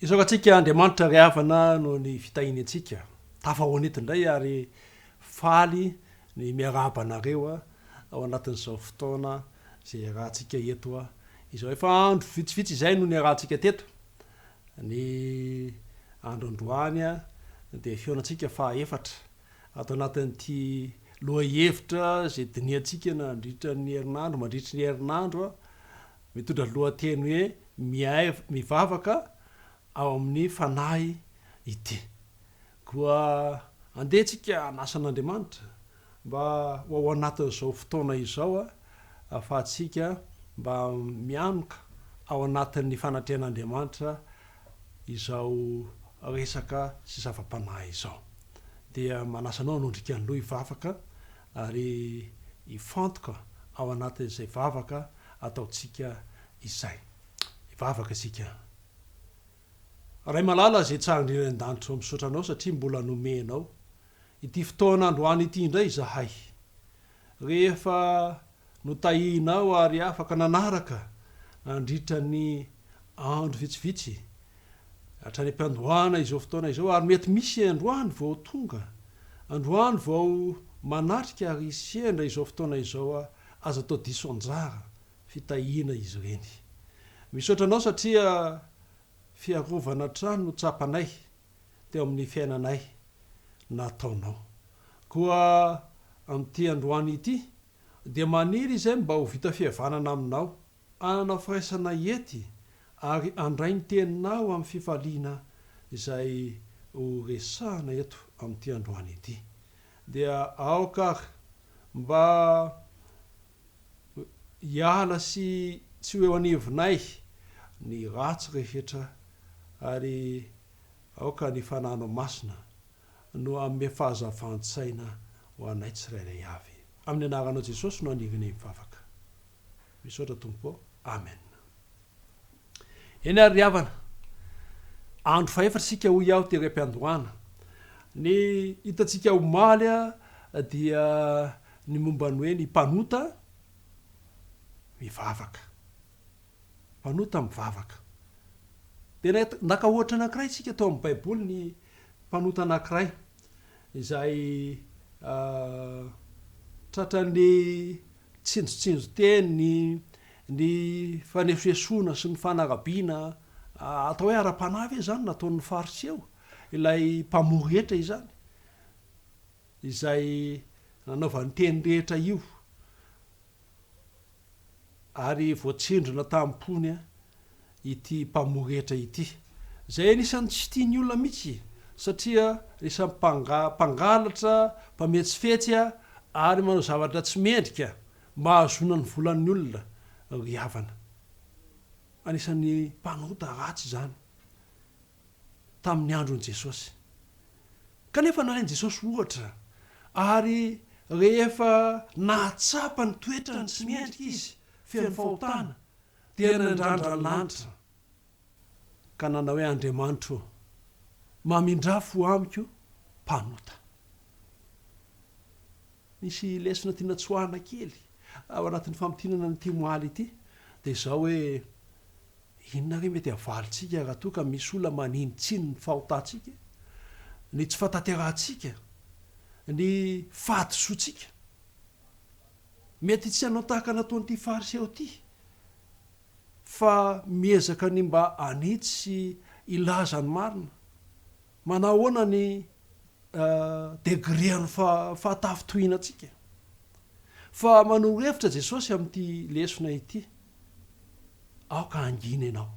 Hisaoka antsika Andriamanitra ry havana noho ny fitahiany antsika. Tafahoana eto indray ary faly ny miarahaba anareo ao anatin'izao fotoana izay iarahantsika eto izao. Efa andro vitsivitsy izay no niarahantsika teto. Ny andro androany dia fihaonantsika faha efatra. Ato anatin'ity lohahevitra izay dinihantsika nandritra ny herinandro, mandritry ny herinandro, mitondra ny lohateny hoe Mihay mivavaka ao amin'ny fanahy ity. Koa andeha isika hanasa an'Andriamanitra mba ho ao anatin'izao fotoana izao ahafahantsika mba mianoka ao anatin'ny fanatrehan'Andriamanitra izao resaka sy zava-panahy izao dia manasa anao hanondrika ny loha hivavaka ary hifantoka ao anatin'izay vavaka ataontsika izay. Hivavaka isika. Ray malala izay tsara indrindra any an-danitra ô misaotra anao satria mbola nomenao ity fotoana androany ity indray izahay Rehefa notahianao ary afaka nanaraka nandritra ny andro vitsivitsy, hatrany am-piandohana izao fotoana izao, ary mety misy androany vao tonga, androany vao manatrika ary sendra izao fotoana izao, aza atao diso anjara fitahiana izy ireny. Misaotra anao satria fiarovana hatrany no tsapanay teo amin'ny fiainanay nataonao. Koa amin'ity androany ity, dia maniry izay mba ho vita fihavanana aminao, ananao firaisana hiety, ary handray ny teninao amin'ny fifaliana izay ho resahina eto amin'ity androany ity. Dia aoka àry mba Hiala sy tsy ho eo anivonay ny ratsy rehetra ary aoka ny Fanano Masina no hanome fahazavan-tsaina ho anay tsirairay avy. Amin'ny anaranao Jesosy no anirianay mivavaka. Misaotra Tompo ô. Amen. Eny ary ry havana, andro fahefatra isika hoy aho tery am-piandohana. Ny hitantsika omaly dia ny momba ny hoe ny mpanota mivavaka. Mpanota mivavaka. Dia naka ohatra anankiray isika tao amin'ny baiboly ny mpanota anankiray izay tratran'ny tsinjontsinjon-teny, ny fanesoesoana sy ny fanarabiana, atao hoe ara-panahy ve izany no nataon'ny Fariseo, ilay mpamory hetra izany, izay nanaovany teny rehetra io, ary voatsindrona tamim-pony. ity mpamory hetra ity, izay anisan'ny tsy tia ny olona mihitsy satria anisan'ny mpangalatra, mpametsifetsy ary manao zavatra tsy mendrika mba hahazoana ny volan'ny olona, ry havana. Anisan'ny mpanota ratsy izany tamin'ny andron'i Jesosy. Kanefa nalain'i Jesosy ohatra ary rehefa nahatsapa ny toetrany tsy mendrika izy, feno fahotana, Dia nandrandra ny lanitra ka nanao hoe, Andriamanitro ô, mamindrà fo amiko mpanota. Misy lesona tiana tsoahina kely ao anatin'ny famintinana an'ity omaly ity, dia izao hoe, inona re mety havalintsika raha toa ka misy olona maninontsino ny fahotantsika, ny tsy fahatanterahantsika, ny fahadisoantsika? Mety tsy hanao tahaka nataon'ity Fariseo ity, fa miezaka ny mba hanitsy sy hilaza ny marina. Manahoana ny degrean'ny fahatafintohinantsika? Fa manoro hevitra Jesosy amin'ity lesona ity, Aoka hangina ianao.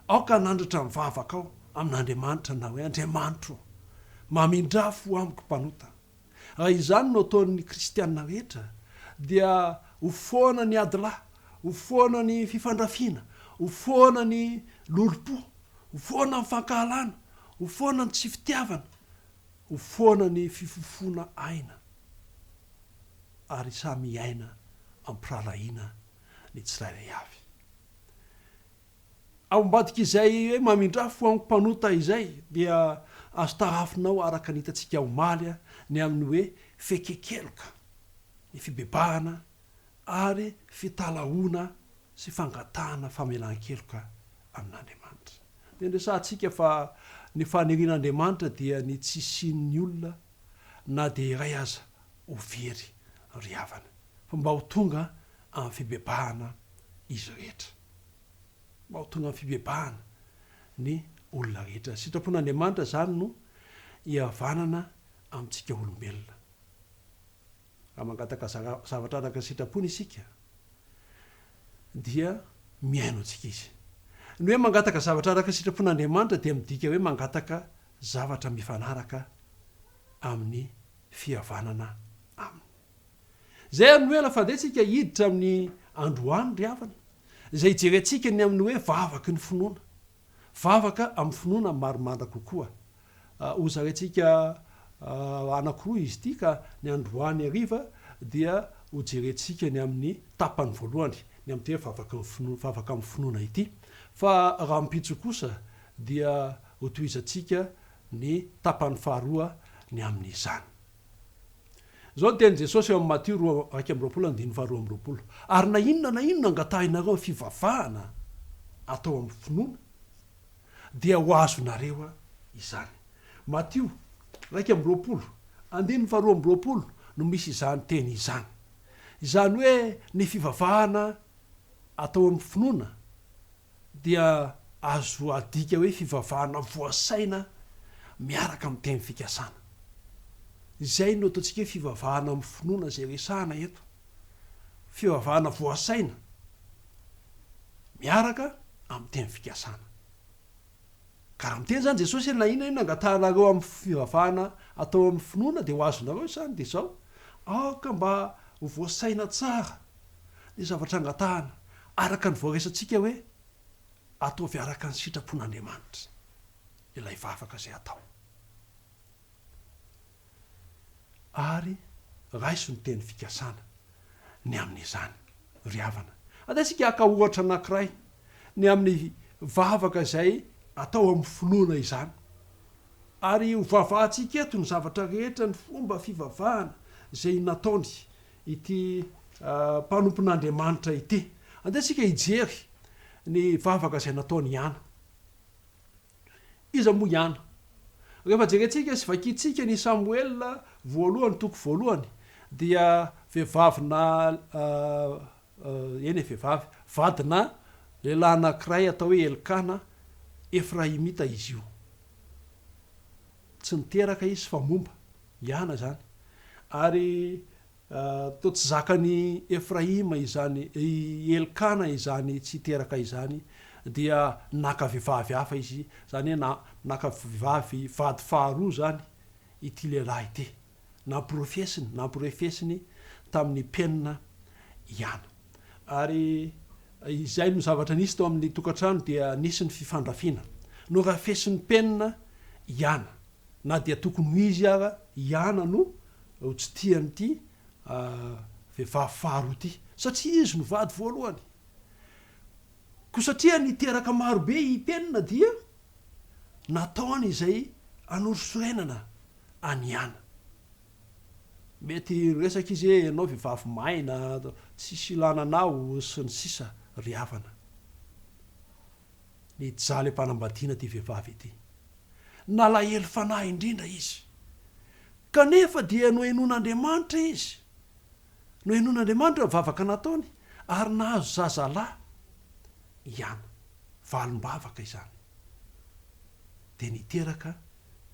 Aoka hanandratra ny vavakao amin'Andriamanitra ny hoe, Andriamanitro ô, mamindrafo amiko mpanota. Raha izany no ataon'ny kristiana rehetra, dia ho foana ny adilahy, ho foana ny fifandrafiana, ho foana ny lolompo, ho foana ny fankahalana, ho foana ny tsy fitiavana, ho foana ny fifofoana aina, ary samy hiaina am-pirahalahiana ny tsirairay avy. Ao ambadik'izay hoe mamindrà fo amiko mpanota izay dia azo tarafinao araka ny hitantsika omaly ny amin'ny hoe fekekeloka, ny fibebahana ary fitalahoana sy fangatahana famelan-keloka amin'Andriamanitra. Dia niresahantsika fa ny fanirian'Andriamanitra dia ny tsy hisian'ny olona na dia iray aza ho very ry havana fa mba ho tonga amin'ny fibebahana izy rehetra. Mba ho tonga amin'ny fibebahana ny olona rehetra. Sitrapon'Andriamanitra izany no hihavanana amintsika olombelona. Raha mangataka zavatra araka ny sitrapony isika dia mihaino antsika izy. Ny hoe mangataka zavatra araka ny sitrapon'Andriamanitra dia midika hoe mangataka zavatra mifanaraka amin'ny fihavanana aminy. Izay ary no ela fandehantsika hiditra amin'ny androany ry havana, izay hijerentsika ny amin'ny hoe vavaky ny finoana. Vavaka amin'ny finoana marimandra kokoa. Hozaraintsika anankiroa izy ity ka ny androany hariva dia hojerentsika ny amin'ny tapany voalohany, ny amin'ity hoe vavaky ny finoana, vavaka amin'ny finoana ity. Fa rahampitso kosa dia hotohizantsika ny tapany faharoa ny amin'izany. Izao no tenin'i Jesosy eo amin'ny Matio roa iraika amby roapolo andininy faharoa amby roapolo, Ary na inona na inona angatahinareo amin'ny fivavahana atao amin'ny finoana, dia ho azonareo izany. Matio iraika amby roapolo andininy faharoa amby roapolo no misy izany teny izany. Izany hoe ny fivavahana atao amin'ny finoana dia azo adika hoe fivavahana voasaina miaraka amin'ny teny fikasana. Izay no ataontsika hoe fivavahana amin'ny finoana izay resahana eto. Fivavahana voasaina miaraka amin'ny teny fikasana. Ka raha miteny izany Jesosy hoe na inona na inona angatahanareo amin'ny fivavahana atao amin'ny finoana dia ho azonareo izany dia izao, aoka mba ho voasaina tsara ny zavatra angatahana, araka ny voaresantsika hoe, Ataovy araka ny sitrapon'Andriamanitra ilay vavaka izay atao, ary raiso ny teny fikasana ny amin'izany. Ry havana, andesintsika haka ohatra anankiray ny amin'ny vavaka izay atao amin'ny finoana izany, ary hovavahantsika eto ny zavatra rehetra ny fomba fivavahana izay nataony ity mpanompon'Andriamanitra ity. Andeha isika hijery ny vavaka izay nataon' i Ana. Iza moa i Ana? Rehefa jerentsika sy vakintsika ny Samoela voalohany toko voalohany dia vehivavy na eny e vehivavy, vadina lehilahy anankiray atao hoe Elkana, Efraimita izy io. Tsy niteraka izy fa momba. Iana izany. Ary toa tsy zakan'i Efraima izany, i Elkana izany tsy teraka izany, dia naka vehivavy hafa izy, izany hoe naka vehivavy vady faharoa izany ity lehilahy ity. namporofesiny, namporefesiny tamin'ny penina ihany. Ary izay no zavatra nisy tao amin'ny tokantrano dia nisy ny fifandrafiana. Norafesin'ny penina i Ana, na dia tokony ho izy ara i Ana no ho tsy tia an'ity vehivavy faharoa ity, satria izy no vady voalohany. Koa satria niteraka marobe i penina dia nataony izay hanorisorenana an'i Ana. Mety hiresaka izy hoe ianao vehivavy maina, tsisy ilana anao, sy ny sisa ry havana. Nijaly am-panambadiana ity vehivavy ity. Nalahelo fanahy indrindra izy. Kanefa dia nohenoin'Andriamanitra izy. Nohenoin'Andriamanitra ny vavaka nataony ary nahazo zazalahy i Hana. Valim-bavaka izany. Dia niteraka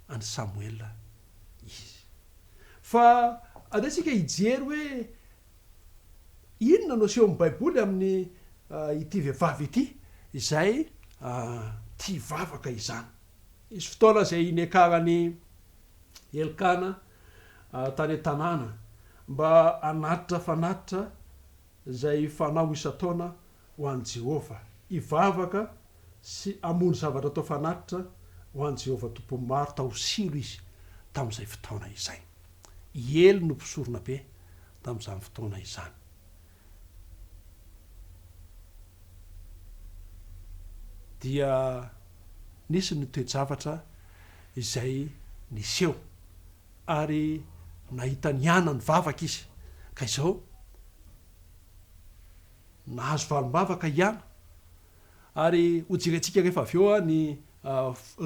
an'i Samoela izy. Fa andeha isika hijery hoe inona no asehon'ny Baiboly amin'ity vehivavy ity izay tia vavaka izany. Nisy fotoana izay niakarany Elkana tany an-tanàna mba hanatitra fanatitra izay fanao isan-taona ho an'i Jehovah, hivavaka sy hamono zavatra atao fanatitra ho an'i Jehovah Tompon'ny maro tao Silo izy tamin'izay fotoana izay. I Ely no mpisoronabe tamin'izany fotoana izany. dia nisy ny toe-javatra izay niseho ary nahita ny anany vavaka izy ka izao nahazo valim-bavaka i Ana. ary ho jerentsika rehefa avy eo ny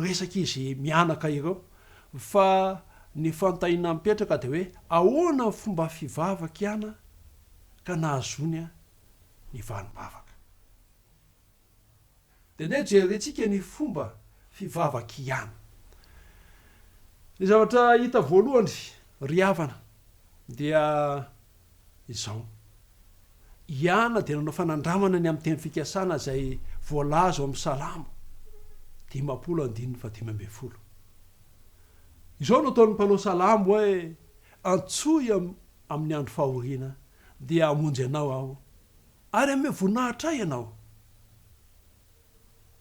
resak'izy mianaka ireo fa ny fanontaniana mipetraka dia hoe ahoana ny fomba fivavak'i Ana ka nahazoany ny vanim-bavaka? Dia andeha jerentsika ny fomba fivavak'i Ana. Ny zavatra hita voalohany ry havana dia izao. I Ana dia nanao fanandramana ny amin'ny teny fikasana izay voalaza ao amin'ny Salamo dimampolo andininy fahadimy ambin'ny folo. Izao no ataon'ny mpanao salamo hoe, Antsoy aho amin'ny andro fahoriana, dia hamonjy anao aho, ary hanome voninahitra ahy ianao.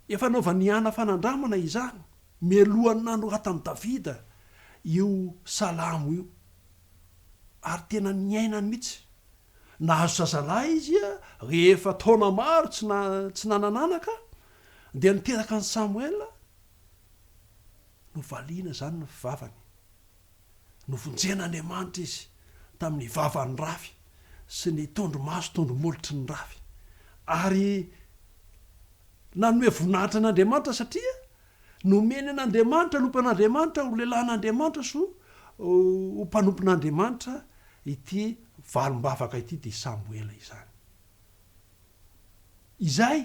Efa anaovan'i Hana fanandramana izany mialohan'ny nanoratan'i Davida io salamo io, ary tena niainany mihitsy. Nahazo zazalahy izy rehefa taona maro tsy nanan'anaka, dia niteraka an'i Samoela, novaliana izany ny vavany. Novonjen'Andriamanitra izy tamin'ny vavan'ny rafy sy ny tondromaso tondromolotry ny rafy, ary nanome voninahitra an'Andriamanitra satria nomeny an'Andriamanitra ny ompan'Andriamanitra ho lehilahin'Andriamanitra sy ho mpanompon'Andriamanitra ity valim-bavaka ity, dia i Samoela izany. Izay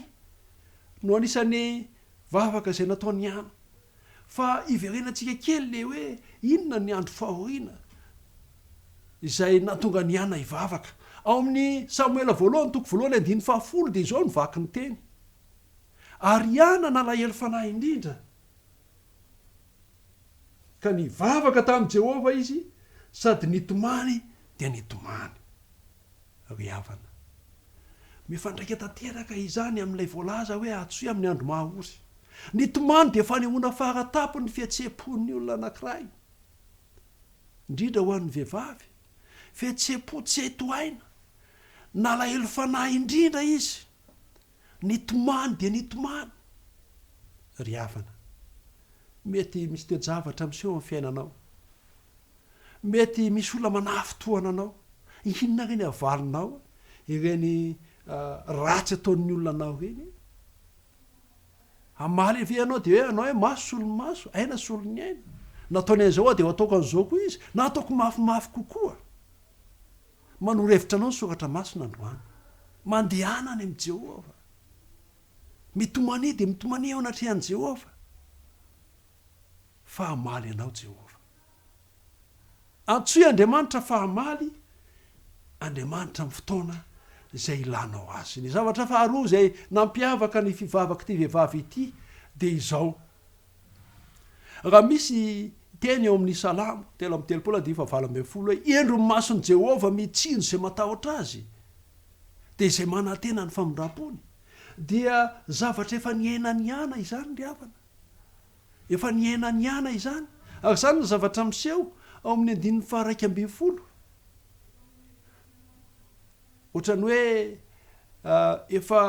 no anisan'ny vavaka izay nataon'i Hana. fa hiverenantsika kely le hoe inona ny andro fahoriana izay nahatonga an'i Hana hivavaka. Ao amin'ny Samoela voalohany toko voalohany andininy fahafolo dia izao no vaky ny teny, Ary Hana nalahelo fanahy indrindra, ka nivavaka tamin'i Jehovah izy, sady nitomany dia nitomany. ry havana. Mifandraika tanteraka izany amin'ilay voalaza hoe hatosia amin'ny andro maha-ory. Ny tomany dia fanehoana fara-tampon'ny fihetseham-pon'ny olona anankiray, indrindra ho an'ny vehivavy, fihetseham-po tsy hay tohaina, nalahelo fanahy indrindra izy. Nitomany dia nitomany ry havana. Mety misy toe-javatra miseho amin'ny fiainanao. Mety misy olona manafintohina anao. Inona re ny havalinao ireny ratsy ataon'ny olona anao ireny? Hamaly ve ianao dia hoe anao hoe maso solon'ny maso, aina solon'ny aina? Nataony an'izao aho dia ho ataoko an'izao koa izy na ataoko mafimafy kokoa. Manoro hevitra anao ny soratra masina androany. Mandehana any amin'i Jehovah. Mitomania dia mitomania eo anatrehan'i Jehovah. Fa hamaly anao Jehovah. Antsoy Andriamanitra fa hamaly Andriamanitra amin'ny fotoana izay ilanao azy. Ny zavatra faharoa izay nampiavaka ny fivavak'ity vehivavy ity dia izao, Raha misy teny eo amin'ny Salamo telo amby telopolo andifa valo ambin'ny folo hoe hendry ny mason'i Jehovah mitsinjo izay matahotra azy, dia izay manantena ny famindram-pony, dia zavatra efa niainan'i Ana izany ry havana. Efa niainan'i Ana izany, ary izany no zavatra miseho ao amin'ny andininy faha-iraika ambin'ny folo. Ohatran'ny hoe efa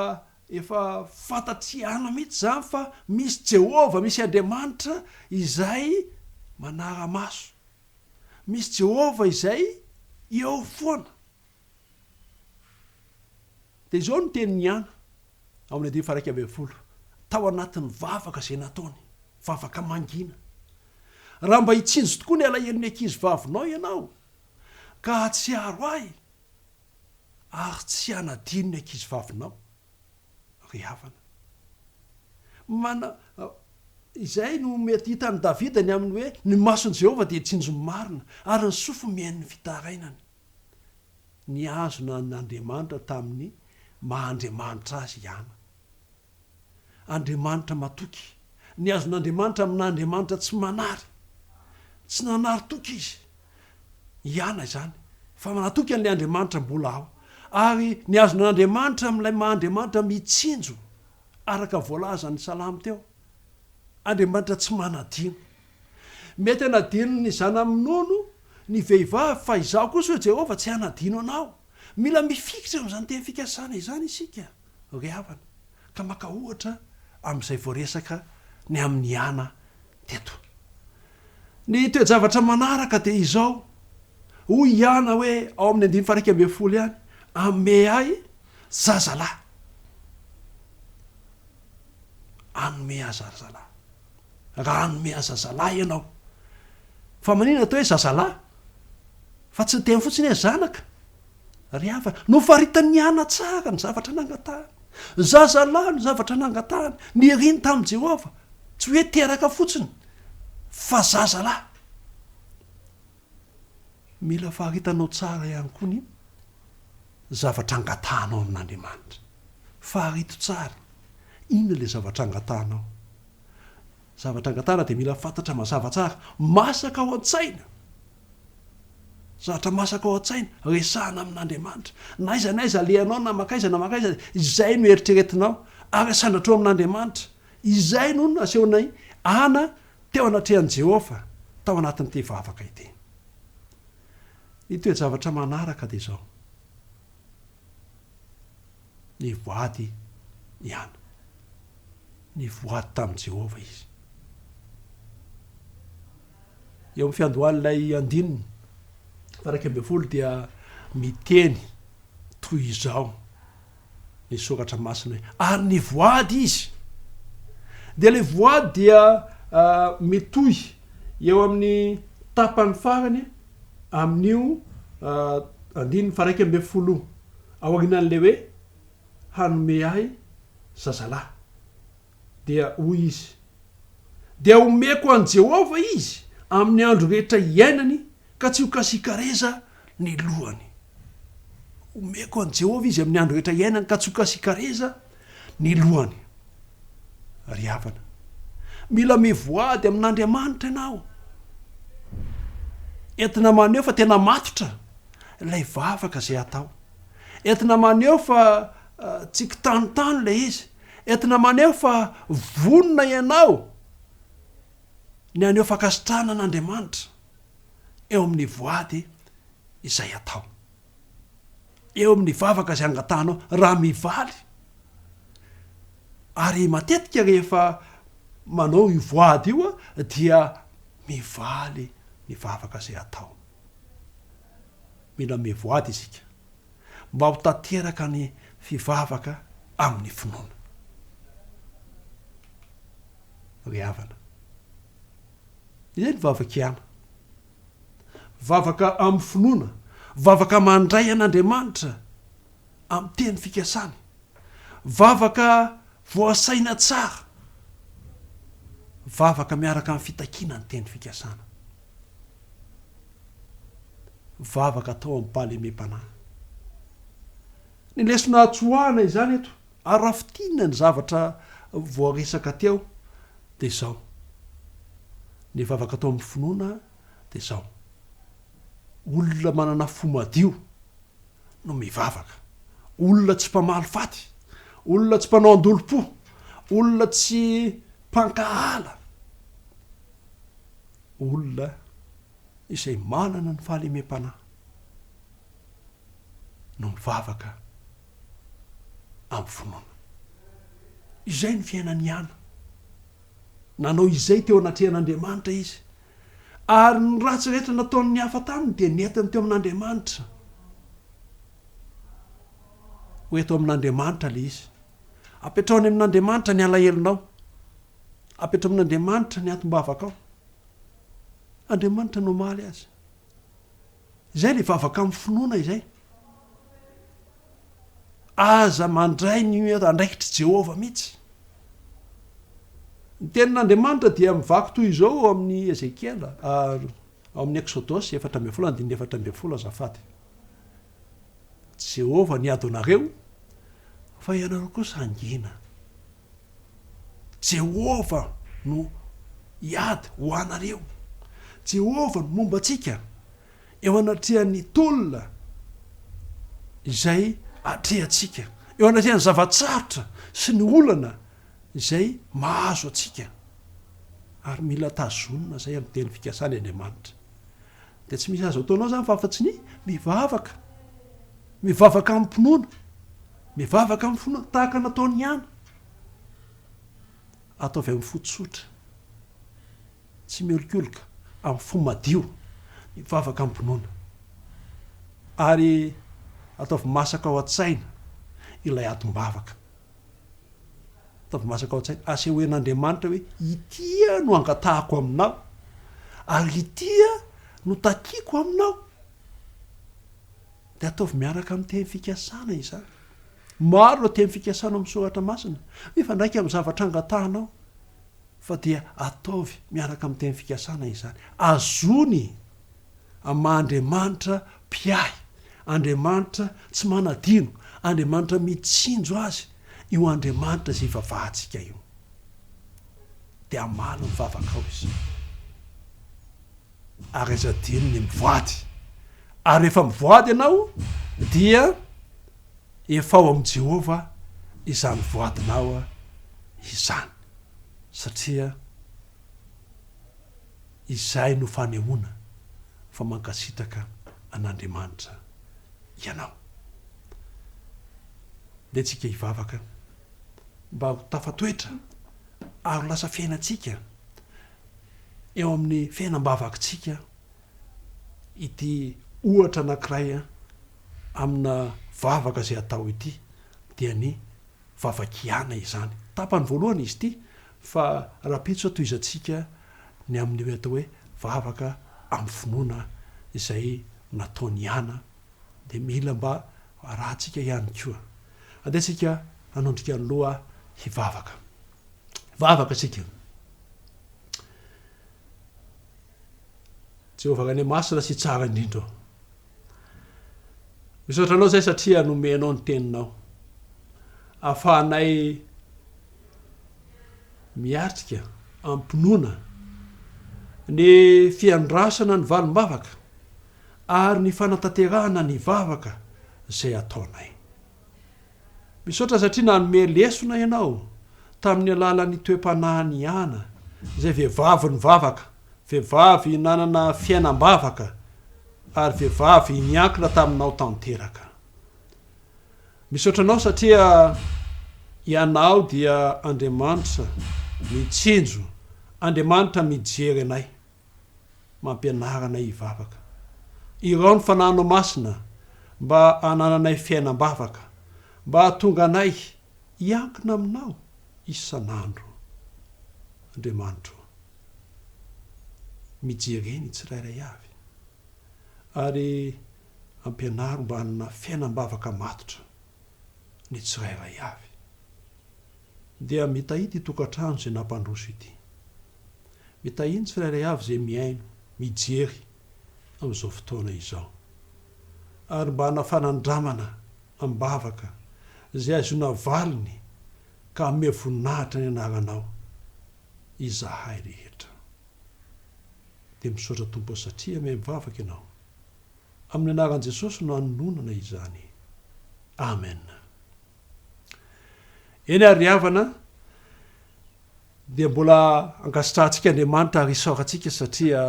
Efa fantatr'i Ana mihitsy izany fa misy Jehovah, misy Andriamanitra izay manara-maso. Misy Jehovah izay eo foana. Dia izao no tenin'i Ana, ao amin'ny andininy faha-iraika ambin'ny folo, tao anatin'ny vavaka izay nataony, vavaka mangina, Raha mba hitsinjo tokoa ny alahelon'ny ankizivavinao ianao, ka hahatsiaro ahy, ary tsy hanadino ny ankizivavinao, ry havana. Mana, Izay no mety hitan'i Davida ny amin'ny hoe, Ny mason'i Jehovah dia tsinjo ny marina, ary ny sofiny mihaino ny fitarainany. Nihazona an'Andriamanitra tamin'ny maha Andriamanitra azy i Ana. Andriamanitra matoky. Ny azon'Andriamanitra aminà andriamanitra tsy manary. Tsy nanary toky izy. Ihana izany. Fa manatoky an'ilay Andriamanitra mbola ao. Ary ny azon'Andriamanitra amin'ilay maha Andriamanitra mitsinjo, araka voalazan'ny salamo teo. Andriamanitra tsy manadino. Mety hanadino ny zana-minono, ny vehivavy, fa izaho kosa, hoy Jehovah, tsy hanadino anao. Mila mifikitra amin'izany teny fikasana izany isika. Ry havana, ka maka ohatra amin'izay voaresaka ny amin'i Ana teto. Ny toe-javatra manaraka dia izao, Hoy i Ana hoe ao amin'ny andininy faha-iraika ambin'ny folo ihany, Hanome ahy zazalahy. Hanome ahy zazalahy. raha hanome azy zazalahy ianao. Fa maninona atao hoe zazalahy? Fa tsy niteny fotsiny hoe zanaka. Ry havana, nofaritan'ny ana tsara ny zavatra nangatahany. Zazalahy no zavatra nangatahany, niriny tamin'i Jehovah. Tsy hoe teraka fotsiny, fa zazalahy. Mila faritanao tsara ihany koa ny. zavatra angatahanao amin'Andriamanitra. Faharito tsara, inona ilay zavatra angatahanao? Zavatra angatahana dia mila fantatra mazava tsara, masaka ao an-tsaina. Zavatra masaka ao an-tsaina, resahana amin'Andriamanitra. Na aiza na aiza alehanao, na mankaiza na mankaiza, izay no eritreretinao, ary asandratrao amin'Andriamanitra. Izay no nasehon'i Hana teo anatrehan'i Jehovah, tao anatin'ity vavaka ity. Ny toe-javatra manaraka dia izao, nivoady i Hana. Nivoady tamin'i Jehovah izy. Eo amin'ny fiandohan'ilay andininy faha-iraika ambin'ny folo dia miteny toy izao. ny soratra masina hoe ary ny voady izy dia ilay voady dia mitohy eo amin'ny tapany farany amin'io andininy faharaika ambin'ny folo aorianan'ilay hoe hanome ahy zazalahy Dia hoy izy, Dia homeko an'i Jehovah izy amin'ny andro rehetra iainany, ka tsy hokasikareza ny lohany. Homeko an'i Jehovah izy amin'ny andro rehetra iainany, ka tsy hokasikareza ny lohany. Ry havana, mila mivoady amin'Andriamanitra ianao. Entina maneho fa tena matotra ilay vavaka izay atao. Entina maneho fa tsy kitanintany ilay izy. Entina maneho fa vonona ianao ny haneho fankasitrahana an'Andriamanitra eo amin'ny voady izay atao, eo amin'ny vavaka izay angatahanao raha mivaly. Ary matetika rehefa manao io voady io dia mivaly ny vavaka izay atao. Mila mivoady isika. mba ho tanteraka ny fivavaka amin'ny finoana. Ry havana, izay ny vavaka ihany, vavaka amin'ny finoana, vavaka mandray an'Andriamanitra amin'ny teny fikasany, vavaka voasaina tsara, vavaka miaraka amin'ny fitakiana ny teny fikasana. vavaka atao am-pahalemem-panahy. Ny lesona atsoahana izany eto, ary raha fintinina ny zavatra voaresaka teo, dia izao, ny vavaka atao amin'ny finoana dia izao, olona manana fo madio no mivavaka, olona tsy mpamaly faty, olona tsy mpanao an-dolom-po, olona tsy mpankahala, Olona izay manana ny fahalemem-panahy no mivavaka amin'ny finoana. Izay ny fiainan'i Hana. Nanao izay teo anatrehan'Andriamanitra izy, ary ny ratsy rehetra nataon'ny hafa taminy dia nentiny teo amin'Andriamanitra. Ho eto amin'Andriamanitra ilay izy. Apetraho any amin'Andriamanitra ny alahelonao. Apetra amin'Andriamanitra ny atim-bavakao. Andriamanitra no hamaly azy. Izay ilay vavaka amin'ny finoana izay. Aza mandray ny andraikitr'i Jehovah mihitsy. Ny tenin'Andriamanitra dia mivaky toy izao ao amin'ny Ezekiela, ary ao amin'ny Eksodosy efatra ambin'ny folo andininy efatra ambin'ny folo azafady. Jehovah niady ho anareo, fa ianareo kosa hangina. Jehovah no hiady ho anareo. Jehovah no momba antsika eo anatrehan'ny tolona izay atrehantsika, eo anatrehan'ny zava-tsarotra sy ny olana izay mahazo antsika. Ary mila tazonina izay amin'ny teny fikasany Andriamanitra. Dia tsy misy azo ataonao izany fa afa-tsy ny mivavaka. Mivavaka amim-pinoana. Mivavaka amin'ny fo maty tahaka nataony ihany. Ataovy amin'ny fo tsotra. Tsy miolokoloka, amin'ny fo madio. Mivavaka am-pinoana. Ary ataovy masaka ao an-tsaina ilay atim-bavaka. Ataovy masaka ao an-tsaina. Asehoen'Andriamanitra hoe ity aho no angatahako aminao, ary ity aho no takiako aminao. Dia ataovy miaraka amin'ny teny fikasana izany. Maro ireo teny fikasana ao amin'ny soratra masina. Mifandraika amin'ny zavatra angatahanao. Fa dia ataovy miaraka amin'ny teny fikasana izany. Azony amin'ny maha Andriamanitra mpiahy, Andriamanitra tsy manadino, Andriamanitra mitsinjo azy io Andriamanitra izay ivavahantsika io. Dia hamaly ny vavakao izany. ary aza adino ny mivoady ary rehefa mivoady ianao dia efa ao amin'i Jehovah izany voadinao izany satria izay no fanehoana fa mankasitraka an'Andriamanitra ianao. Ndeha tsika hivavaka mba ho tafatoetra ary ho lasa fiainantsika eo amin'ny fiainam-bavakintsika ity ohatra anankiray amina vavaka izay atao ity, dia ny vavakiana izany. Tapany voalohany izy ity fa rahampitso tohizantsika ny amin'ny hoe atao hoe vavaka amin'ny finoana izay nataon'i Iana dia mila mba arahantsika ihany koa. Andeha isika hanondrika ny loha hivavaka. Vavaka isika. Jehovah Ray Masina sy Tsara indrindra ô. Misaotra Anao izay satria nomenao ny teninao. Afahanay miatrika am-pinoana ny fiandrasana ny valim-bavaka ary ny fanatanterahana ny vavaka izay ataonay. Misaotra satria nanome lesona ianao tamin'ny alalan'ny toe-panahin'i Iana, izay vehivavy nivavaka, vehivavy nanana fiainam-bavaka, ary vehivavy niankina taminao tanteraka. Misaotra anao satria Ianao dia Andriamanitra mitsinjo, Andriamanitra mijery anay. mampianara anay hivavaka. Irao ny Fanahinao Masina mba hanananay fiainam-bavaka, mba hahatonga anay hiankina Aminao isan'andro. Andriamanitro ô, mijere ny tsirairay avy, ary ampianaro mba hanana fiainam-bavaka matotra ny tsirairay avy. Dia mitahia ity tokantrano izay nampandroso ity. Mitahia ny tsirairay avy izay mihaino, mijery amin'izao fotoana izao. Ary mba hanao fanandramana am-bavaka izay hahazoana valiny ka hanome voninahitra ny anaranao izahay rehetra. Dia misaotra Tompo satria mihaino vavaka Ianao. Amin'ny anaran'i Jesosy no anononana izany. Amen. Eny àry ry havana, dia mbola ankasitrahantsika Andriamanitra ary isaorantsika satria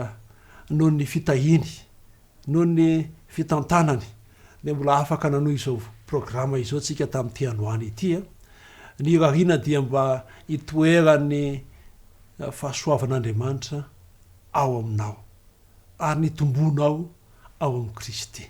noho ny fitahiany, noho ny fitantanany dia mbola afaka nanohy izao programa izao tsika tamin'ity androany ity. Ny irariana dia mba hitoeran'ny fahasoavan'Andriamanitra ao aminao ary ny tomboanao ao amin'i Kristy.